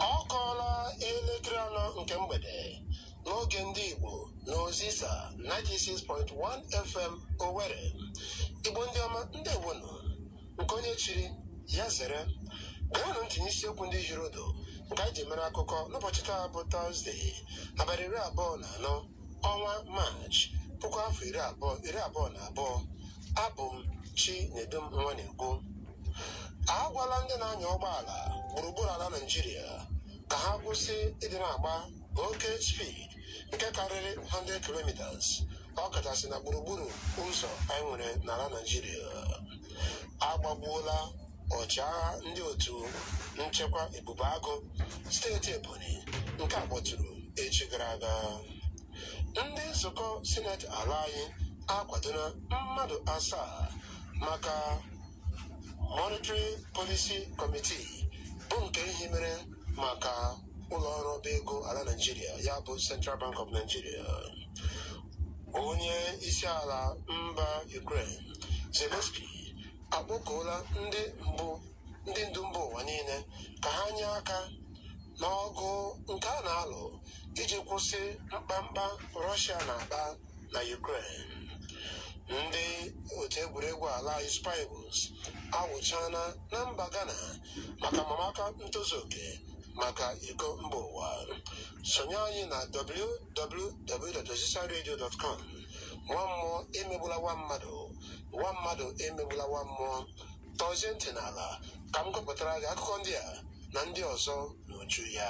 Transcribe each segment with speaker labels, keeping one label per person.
Speaker 1: ọ kụọla elekere anọ nke mgbede n'oge ndị Igbo na Ozisa 96.1 FM Owerri Igbo ndị ọma ndewonu nke onye chiri ya zere geenụ ntị n'isiokwu ndị hiri odo nke anyị ji mere akụkọ n'ụbọchị taa bụ Tọzdee abalị iri abụọ na anọ ọnwa maachị puku afọ iri abụọ iri abụọ na abụọ abụ m chinedum nwanegwu agwala ndị na-anya ụgbọala gburugburu ala naijiria ka ha kwụsị ịdị na-agba oke speed nke karịrị 100 kilometers ọkachasị na gburugburu ụzọ anyị nwere n'ala naijiria agbagbuola ọchịagha ndị otu nchekwa ebube agụ steeti ebonyi nke a kpọtụrụ echi gara aga ndị nzukọ sineti ala anyị akwadola mmadụ asaa maka monetary policy committee bụ nke e hibere maka ụlọ ọrụ ọba ego ala naijiria ya bụ central bank of nigeria onye isi ala mba ukraine zelensky akpọkuola ndị ndu mba ụwa niile ka ha nye aka n'ọgụ nke a na-alụ iji kwụsị mkpamkpa Rọshia na-akpa na Ukraine. Ndị otu egwuregwu ala anyị Super Eagles awụchaala na mba Ghana maka amamaka ntozu oke maka iko mba ụwa. Sonye anyị na www.ozisaradio.com nwa mmụọ emegbula nwa mmadụ nwa mmadụ emegbula nwa mmụọ tọzie ntị n'ala ka m gụpụtara gị akụkọ ndị a na ndị ọzọ n'uju ya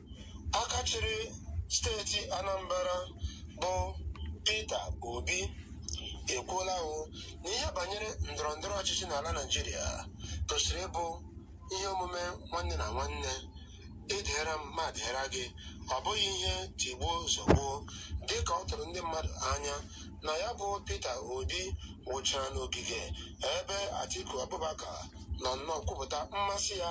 Speaker 1: aka chịrị steeti Anambra bụ Peter Obi ekwuolanụ na ihe banyere ndọrọ ndọrọ ọchịchị n'ala Naịjirịa tosiri ịbụ ihe omume nwanne na nwanne ị dịịra m m adịịra gị ọ bụghị ihe tigbuo zọgbuo dị ka ọ tụrụ ndị mmadụ anya na ya bụ Peter Obi wụchara n'ogige ebe Atiku Abubakar nọ nnọọ kwupụta mmasị ya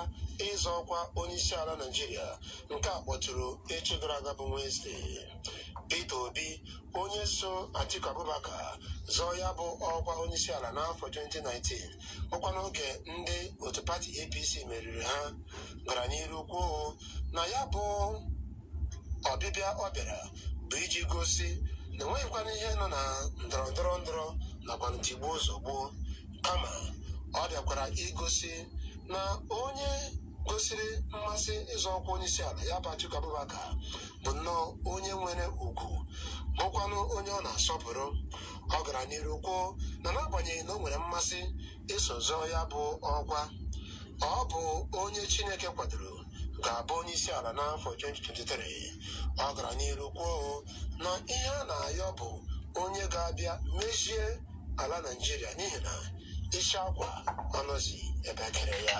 Speaker 1: ịzọ ọkwa onyeisiala Naịjirịa nke a kpọtụrụ echi gara aga bụ Wenezdee. Peter Obi onye so Atiku Abubakar zọọ ya bụ ọkwa onyeisiala n'afọ 2019 bụkwa n'oge ndị otu pati APC meriri ha gara n'iru kwuo na ya bụ ọbịbịa ọ bịara bụ iji gosi na enweghịkwana ihe nọ na ndọrọ ndọrọ ndọrọ nakwa ntigbuo zọgbuo kama ọ bịakwara igosi na onye gosiri mmasị ịzọ ọkwa onye isi ala ya bụ Atiku Abubakar bụ nnọọ onye nwere ugwu bụkwanụ onye ọ na-asọpụrụ ọ gara n'iru kwuo na n'agbanyeghị na o nwere mmasị iso zọọ ya bụ ọkwa ọ bụ onye Chineke kwadoro ga-abụ onye isi ala n'afọ 2023 ọ gara n'iru kwuo na ihe a na-ayọ bụ onye ga-abịa mezie ala naijiria n'ihi na isi akwa anọzi ebe e kere ya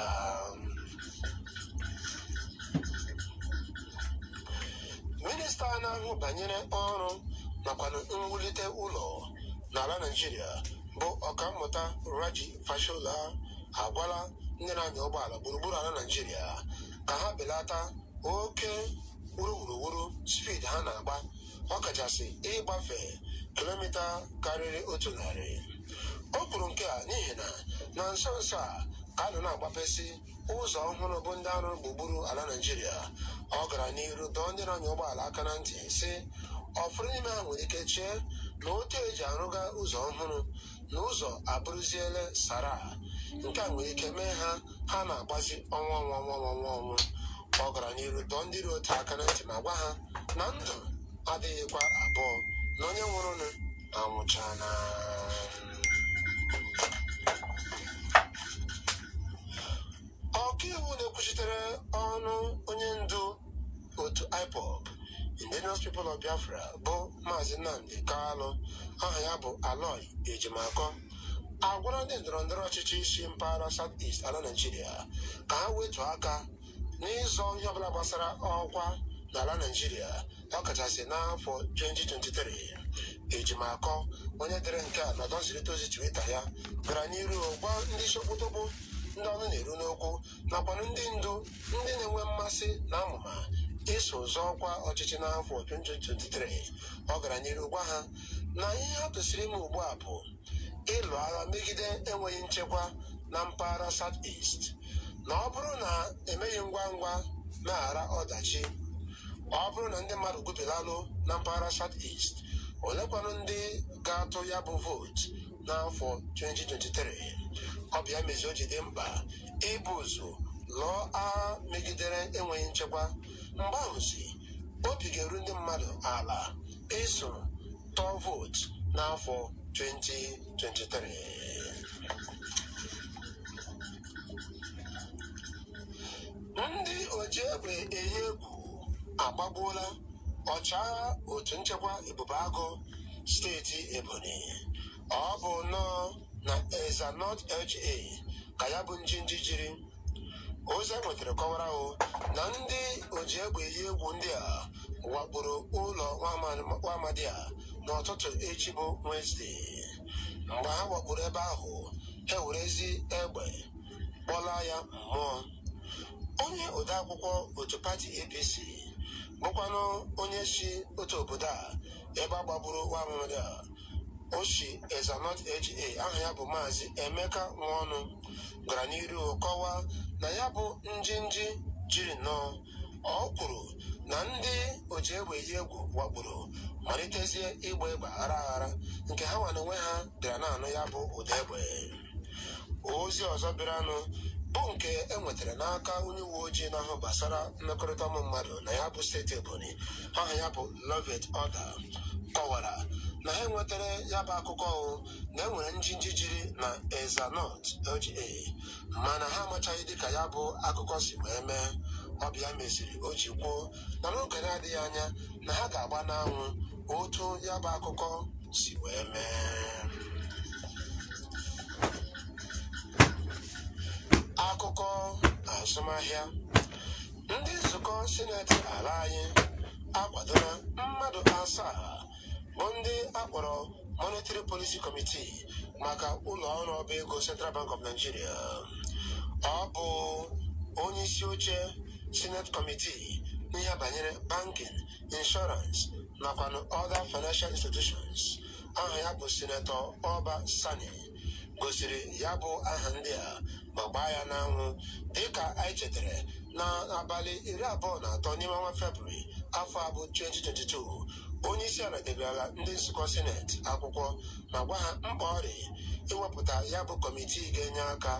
Speaker 1: minista na-ahụ banyere ọrụ nakwa mwulite ụlọ n'ala naijiria bụ ọkammụta raji Fashola agwala ndị na-anya ụgbọala gburugburu ala Naịjirịa ka ha belata oke wuruwuruwuru speed ha na-agba ọkachasị ịgbafe kilomita karịrị otu narị o kwuru nke a n'ihi na na nso nso a ka a nọ na-agbapesị ụzọ ọhụrụ bụ ndị a rụrụ gburugburu ala Naịjirịa ọ gara n'iru dọọ ndị na-anya ụgbọala aka na ntị sị ụfọdụ n'ime ha nwere ike chee na otu e ji arụga ụzọ ọhụrụ na ụzọ abụrụziele sara nke a nwere ike mee ha ha na-agbazi ọnwa ọnwụ ọnwa ọnwụ ọ gara n'iru dọọ ndị dị otu a aka na ntị ma gwa ha na ndụ adịghịkwa abụọ na onye nwụrụnụ anwụchana ọkaiwu na-ekwuchitere ọnụ onye ndu otu ipob indigenous people of biafra bụ maazị nnamdi kalụ aha ya bụ aloy ejimakọ agwala ndị ndọrọ ndọrọ ọchịchị si mpaghara south east ala naijiria ka ha wetu aka n'ịzọ ihe ọbụla gbasara ọkwa n'ala naijiria ọkachasị n'afọ 2023 ejimakọ onye dere nke a n'ọdọ nzirịta ozi twitter ya gara n'iru gwa ndị sokoto bụ ndị ọnụ na-eru n'okwu nakwanụ ndị ndu ndị na-enwe mmasị na amụma iso zọọ ọkwa ọchịchị n'afọ 2023 ọ gara n'iru gwa ha na ihe ha kwesịrị ime ugbu a bụ ịlụ agha megide enweghị nchekwa na mpaghara South East na ọ bụrụ na e meghị ngwa ngwa meghara ọdachi ọ bụrụ na ndị mmadụ gwubilalụ na mpaghara South East olekwanụ ndị ga-atụ ya bụ vootu n'afọ 2023 ọ bụ ya mezi o ji dị mkpa ibu ụzọ lụọ agha megidere enweghị nchekwa mgbe ahụzi obi ga-eru ndị mmadụ ala iso tụọ vootu n'afọ 2023 ndị oji egbe eyi egwu agbagbuola ọchịagha otu nchekwa ebube agụ steeti ebonyi ọ bụ nnọọ na ezza north LGA ka ya bụ njinji jiri ozi e nwetara kọwara ahụ na ndị oji egbe eyi egwu ndị a wakporo ụlọ nwa amadi a n'ụtụtụ echi bụ Wenesde mgbe ha wakporo ebe ahụ ha werezie egbe kpọlaa ya mmụọ onye odeakwụkwọ otu pati APC bụkwanụ onye si otu obodo a ebe a gbagburu nwa amadi a o si ezza north LGA aha ya bụ maazị emeka nwaọnụ gara n'iru kọwaa na ya bụ njinji jiri nnọọ ọ kwuru na ndị oji egbe eyi egwu wakporo malitezie ịgba egbe aghara aghara nke ha nwa n'onwe ha bịara na-anụ ya bụ ụda egbe ozi ọzọ bịaranụ bụ nke e nwetara n'aka onye uwe ojii na-ahụ gbasara mmekọrịta ụmụ mmadụ na ya bụ steeti ebonyi aha ya bụ loveth odah kọwara na ha enwetara ya bụ akụkọ ahụ na e nwere njinji jiri na Ezza North LGA mana ha amachaghị dịka ya bụ akụkọ si wee mee ọ bụ ya meziri o ji kwuo na n'oge na-adịghị anya na ha ga-agba n'anwụ otu ya bụ akụkọ si wee mee akụkọ azụmahịa ndị nzukọ sineti ala anyị akwadola mmadụ asaa bụ ndị a kpọrọ Monetary Policy Committee maka ụlọ ọrụ ọba ego Central Bank of Nigeria ọ bụ onye isi oche Senate Committee n'ihe banyere banking, insurance nakwa other financial institutions aha ya bụ Senator Uba Sani gosiri ya bụ aha ndị a ma gbaa ya n'anwụ dịka anyị chetara na abalị iri abụọ na atọ n'ime ọnwa febrụwarị afọ a bụ 2022 onye isi ala degarala ndị nzukọ sineti akwụkwọ ma gwa ha mkpa ọ dị iwepụta ya bụ kọmitii ga-enye aka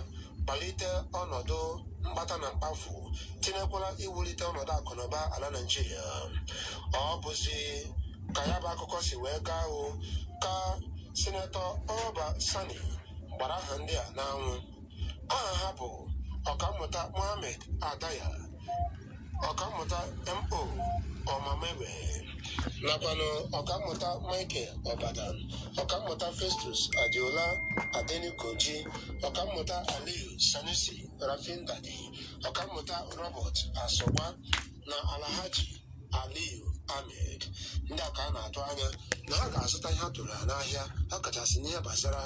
Speaker 1: kpalite ọnọdụ mkpata na mkpafu tinyekwara iwulite ọnọdụ akụnụba ala naijiria ọ bụzi ka ya bụ akụkọ si wee gaa ahụ ka Sinetọ Uba Sani gbara aha ndị a n'anwụ aha ha bụ ọkammụta Mohammed Adaya ọkammụta Mo Omamegbe nakwanụ ọkammụta Michael Obadan ọkammụta Festus Adeola Adenikoji ọkammụta Aliyu Sanusi Rafindadi ọkammụta Robert Asogwa na Alhaji Aliyu Ahmed ndị a ka a na-atụ anya na ha ga-azụta ihe a tụrụ ha n'ahịa ọkachasị n'ihe gbasara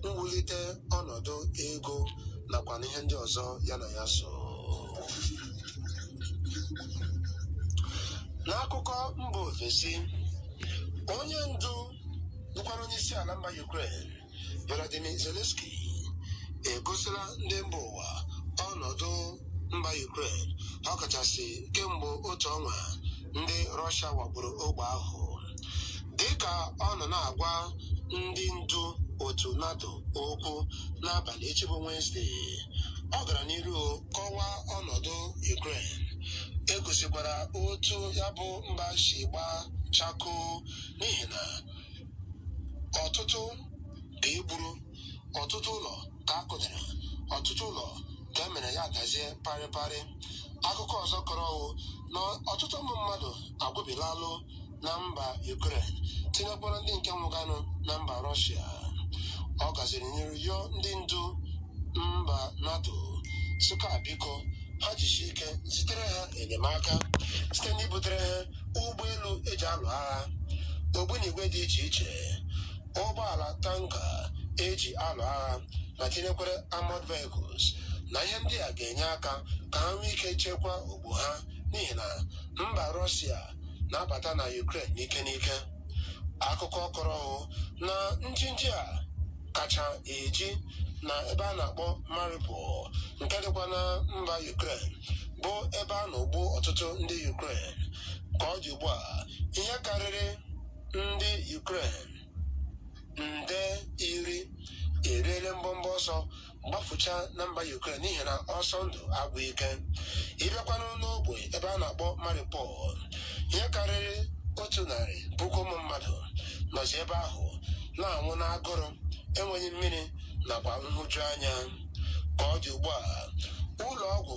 Speaker 1: mwulite ọnọdụ ego nakwa n'ihe ndị ọzọ ya na ya so n'akụkọ mba ofesi onye ndu bụkwara onye isi ala mba Ukraine Volodymyr Zelensky egosila ndị mba ụwa ọnọdụ mba Ukraine ọkachasị kemgbe otu ọnwa ndị Rọshia wakporo ogbe ahụ dịka ọ nọ na-agwa ndị ndu otu NATO okwu n'abalị echi bụ Wenesde ọ gara n'iru kọwaa ọnọdụ Ukraine e gosikwara otu ya bụ mba si gbaa chakoo n'ihi na ọtụtụ ka e gburu ọtụtụ ụlọ ka a kụdara ọtụtụ ụlọ ka e mere ya adazie parịparị akụkọ ọzọ kọrọ ọwụ na ọtụtụ ụmụ mmadụ agwụbilalụ na mba Ukraine tinyekwara ndị nke nwụganụ na mba Rọshia ọ gaziri n'iru yọọ ndị ndu mba NATO sị ka biko ha jisie ike zitere ha enyemaka site n'ibutere ha ụgbọelu e ji alụ agha ogbunigwe dị iche iche ụgbọala tanka e ji alụ agha ma tinyekwara armored vehicles na ihe ndị a ga-enye aka ka ha nwee ike chekwaa ogbe ha n'ihi na mba Rọshia na-abata na Ukraine n'ike n'ike akụkọ kọrọ hụ na njinji a kacha eji na ebe a na-akpọ Mariupol nke dịkwa na mba Ukraine bụ ebe a na-egbu ọtụtụ ndị Ukraine ka ọ dị ugbu a ihe karịrị ndị Ukraine nde iri eriele mbọmbọ ọsọ gbafuchaa na mba Ukraine n'ihi na ọsọ ndụ agwụ ike ị bịakwanụ n'ogbe ebe a na-akpọ Mariupol ihe karịrị otu narị puku ụmụ mmadụ nọzi ebe ahụ na-anwụ n'agụrụ enweghị mmiri nakwa nhụjuanya ka ọ dị ugbu a ụlọ ọgwụ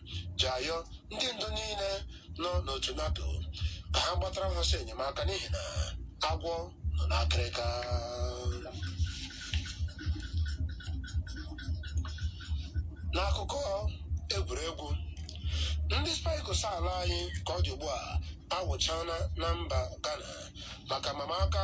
Speaker 1: ji ayọ ndị ndu niile nọ n'otu NATO ka ha gbatara ha ọsọ enyemaka n'ihi na agwọ nọ n'akịrịka n'akụkọ egwuregwu ndị Super Eagles ala anyị ka ọ dị ugbu a awụchana na mba Ghana maka mama aka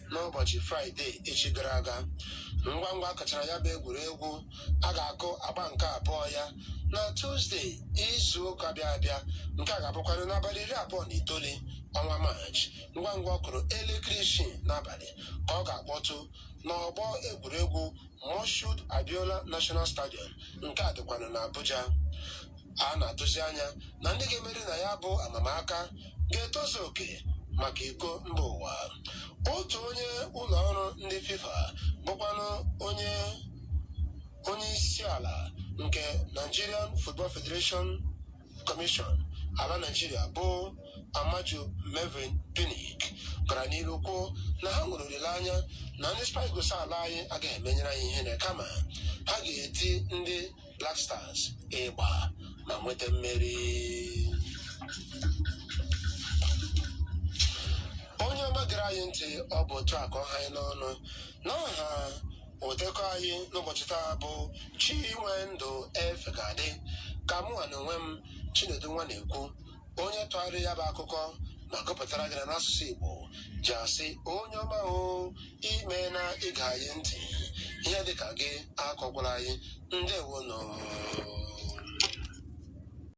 Speaker 1: n'ụbọchị fraịde echi gara aga ngwa ngwa a kụchara ya bụ egwuregwu a ga-akụ agba nke abụọ ya na tuzde izu ụka bịa abịa nke a ga-abụkwanụ n'abalị iri abụọ na itoolu ọnwa maachị ngwa ngwa ọ kụrụ elekere isii n'abalị ka ọ ga-akpọtụ n'ọgbọ egwuregwu Moshood Abiola National Stadium nke a dịkwanụ n'Abuja a na-atụzi anya na ndị ga-emeri na ya bụ amamaka ga-etozu oke maka iko mba ụwa otu onye ụlọ ọrụ ndị fifa bụkwanụ onye onye isi ala nke nigerian football federation commission ala naijiria bụ amaju melvin pinnick gara n'iru kwuo na ha nwere olileanya na ndị super eagles ala anyị agaghị emenyere anyị ihere kama ha ga-eti ndị Black Stars ịgba ma nweta mmeri onye ọma gere anyị ntị ọ bụ otu a ka ọ ha anyị n'ọnụ n'aha odekọ anyị n'ụbọchị taa bụ Chinwendu Efegadi ka mụnwa na onwe m Chinedu Nwanekwu onye tụgharịrị ya bụ akụkọ ma gụpụtara gị ya n'asụsụ Igbo ji asị onye ọma o i meena ịṅa anyị ntị ihe dịka gị akọkwala anyị ndewonụ